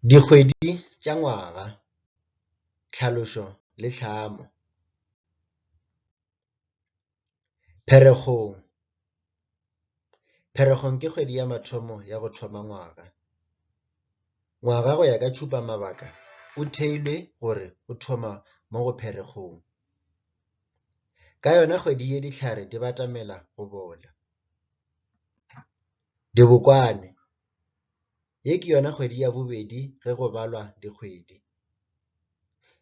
Dikgwedi tša ngwaga, tlhalošo le tlhamo, Pherekgong, Pherekgong ke kgwedi ya mathomo ya go thoma ngwaga. Ngwaga go ya ka tšhupamabaka o theilwe gore o thoma mo go Pherekgong. Ka yona kgwedi ye dihlare di batamela go bola. Dibokwane, Ye ke yona kgwedi ya bobedi ge go balwa dikgwedi.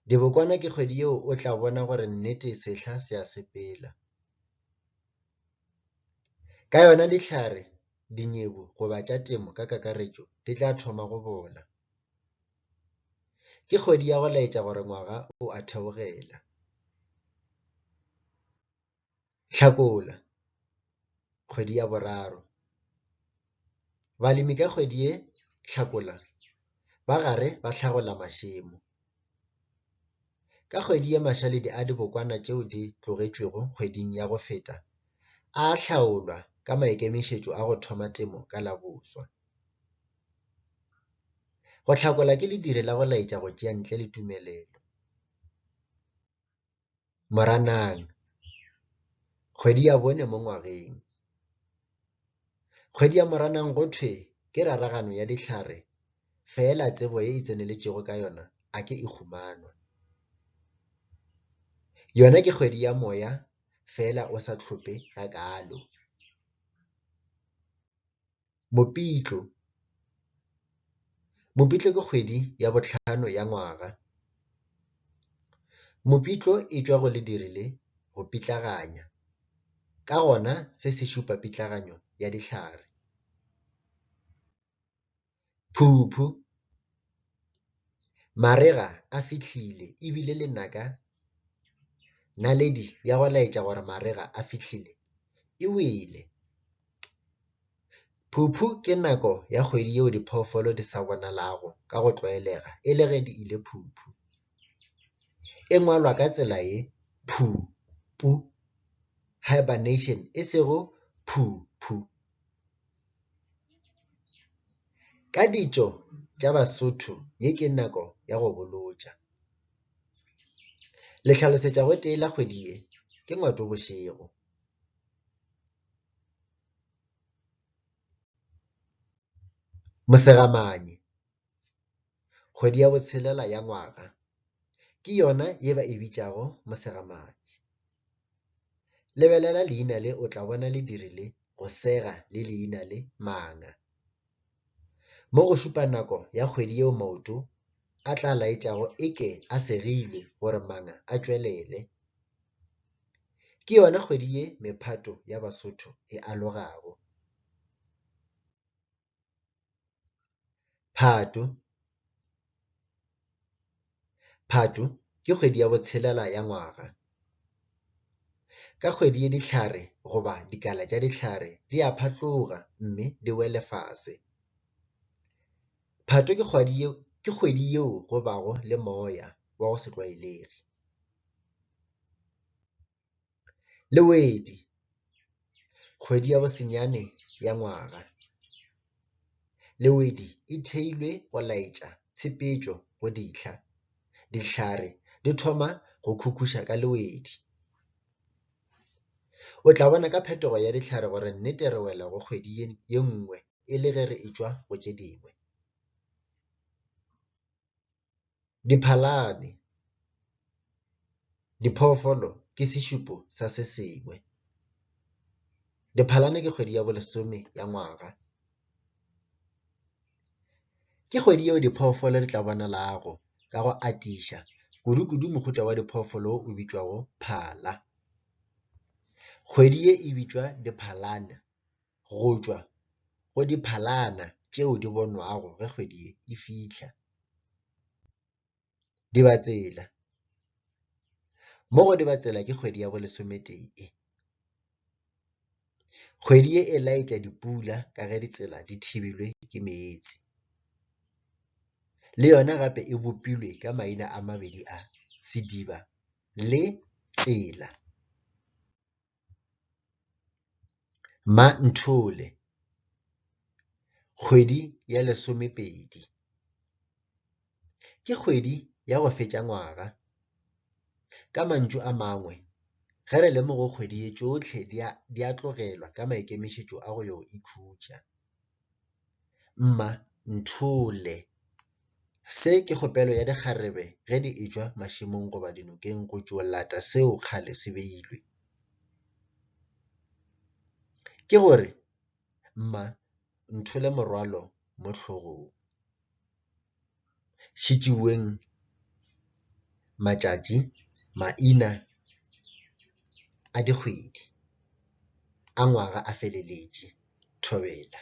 Dibokwane ke kgwedi yeo o tla bona gore nnete sehla se a sepela. Ka yona dihlare, dinyebu goba tša temo ka kakaretšo di tla thoma go bola. Ke kgwedi ya go laetša gore ngwaga o a theogela. Hlakola, kgwedi ya boraro. Balemi ka kgwedi ye Hlakola ba gare ba hlagola mašemo. Ka kgwedi ye mašaledi a dibokwana tšeo di tlogetšwego kgweding ya go feta a a hlaolwa ka maikemišetšo a go thoma temo ka la boswa. Go hlakola ke ledire la go laetša go tšea ntle le tumelelo. Moranang, kgwedi ya bone mo ngwageng. Kgwedi ya Moranang go thwe ke raragano ya dihlare fela tsebo e e tseneletšego ka yona a ke e humanwa. Yona ke kgwedi ya moya fela o sa hlophe gakaalo. Mopitlo, Mopitlo ke kgwedi ya bohlano ya ngwaga. Mopitlo e tšwa go lediri le go pitlaganya, ka gona se se šupa pitlaganyo ya dihlare. Phuphu, Marega a fihlile e bile lenaka naledi ya go laetša gore marega a fihlile e wele. Phuphu ke nako ya kgwedi yeo diphoofolo di sa bonalago ka go tlwaelega e le ge di ile phuphu. E ngwalwa ka tsela ye, phu-pu, hibernation, e sego phu-phu. Ka ditšo tša Basotho ye ke nako ya go bolotša. Le hlalosetša gotee la kgwedi ye ke ngwato bošego. Mosegamane. Kgwedi ya botshelela ya ngwaga ke yona ye ba e bitšago Mosegamatši. Lebelela leina le o tla bona le dirile go sega le leina le Manga. Mo go šupa nako ya kgwedi yeo maoto a tla laetšago e ke a segilwe gore Manga a tšwelele. Ke yona kgwedi ye mephato ya Basotho e alogago. Phatwe, Phatwe ke kgwedi ya botshelela ya ngwaga. Ka kgwedi ye dihlare goba dikala tša dihlare di a phatloga mme di wele fase. Phatwe ke kgwedi yeo go bago le moya wa go se tlwaelege. le wedi kgwedi ya bosenyane ya ngwaga, le wedi e theilwe go laetša tshepetšo go dihla, dihlare di thoma go khukhusha ka le wedi. O tla bona ka phetogo ya dihlare gore nnete re wela go kgwedi ye nngwe e le ge re etšwa go tše dingwe. Diphalane, diphoofolo ke sešupo sa se sengwe. Diphalane ke kgwedi ya bolesome ya ngwaga. Ke kgwedi yeo diphoofolo di tla bonalago ka go atiša kudu-kudu mohuta wa diphoofolo o bitšwago phala. Kgwedi ye e bitšwa diphalane. go tšwa go diphalana tšeo di bonwago ge kgwedi e fihla, Dibatsela, mo go Dibatsela ke kgwedi ya bo lesometee. Kgwedi ye e laetša dipula ka ge ditsela di thebilwe ke meetse. Le yona gape e bopilwe ka maina a mabedi a, Sediba le Tsela. Mma Nthole, Kgwedi ya lesomepedi ke kgwedi ya go fetša ngwaga, ka mantšu a mangwe ge re le mo go kgwedi ye tšohle di a tlogelwa ka maikemišetšo a go yo ikhutša. Mma nthole. Se ke kgopelo ya dikgarebe ge di e-tšwa mašemong goba dinokeng go tšo lata seo kgale se beilwe. Ke gore, Mma nthole morwalo mo hlogong. šitšiweng matšatši, maina a dikgwedi a ngwaga a feleletše, thobela.